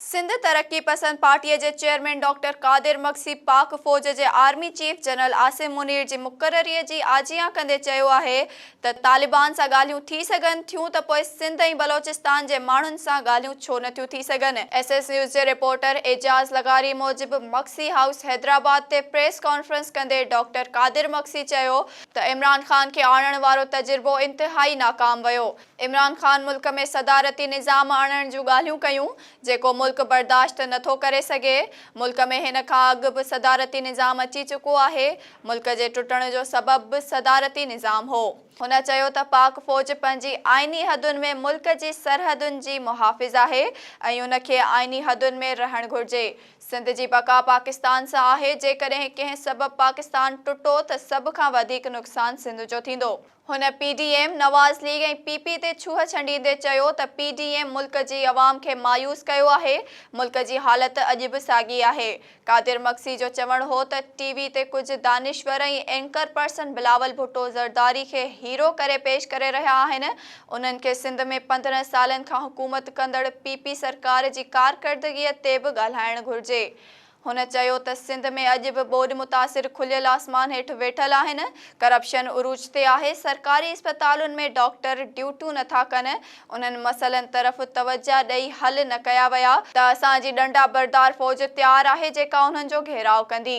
سنڌ ترقي پسند پارٽيء جي chairman doctor Qadir Magsi Pak فوج جي army chief general Asim Munir جي مقرريء جي آجيان ڪندي چيو آهي ته طالبان سان ڳالهيون ٿي سگهن ٿيون ته پوء سنڌ ۽ بلوچستان جي ماڻهن سان ڳالهيون ڇو نه ٿيون ٿي سگهن. ايس ايس نيوز جي رپورٽر اعجاز لغاري موجب مگسي هائوس حيدرآباد تي پريس ڪانفرنس ڪندي ڊاڪٽر قادر مگسي چيو ته عمران خان کي آڻڻ وارو تجربو انتهائي ناڪام ويو، عمران خان ملڪ ۾ صدارتي نظام آڻڻ جون ڳالهيون ڪيون، جيڪو ملڪ برداشت نٿو ڪري سگهي، ملڪ ۾ هن کان اڳ به صدارتي نظام اچي چڪو آهي، ملڪ جي ٽٽڻ جو سبب به صدارتي نظام هو. هن چيو ته پاڪ فوج پنهنجي آئيني حدن ۾ ملڪ جي سرحدن جي محافظ آهي ۽ ان کي آئيني حدن ۾ رهڻ گهرجي، سنڌ جي بقا پاڪستان سان آهي، جيڪڏهن ڪنهن سبب پاڪستان ٽٽو ته سڀ کان وڌيڪ نقصان سنڌ جو ٿيندو. هن P D M, Nawaz league ۽ P P تي ڇوهه ڇنڊيندي چيو ته پي ڊي ايم ملڪ جي عوام کي مايوس ڪيو آهي، ملڪ جي حالت اڄ به ساڳي آهي. قادر مگسي جو چوڻ هو ته ٽي وي تي ڪجهه دانشور ۽ اينڪر پرسن بلاول ڀٽو زرداري کي هيرو ڪري پيش ڪري رهيا آهن، انهن کي سنڌ ۾ پندرهن سالن کان حڪومت ڪندڙ پي پي سرڪار جي ڪارڪردگي تي به ڳالهائڻ گهرجي. هن چيو ته سنڌ ۾ اڄ به ٻوڏ متاثر کليل آسمان هيٺ ويٺل آهن، ڪرپشن عروج تي آهي، سرڪاري اسپتالن ۾ ڊاڪٽر ڊيوٽون نٿا ڪن، انهن مسئلن طرف توجهه ڏئي حل نه ڪيا ويا ته اسان جي ڏنڊا بردار فوج تيار آهي جيڪا انهن جو گهيراء ڪندي.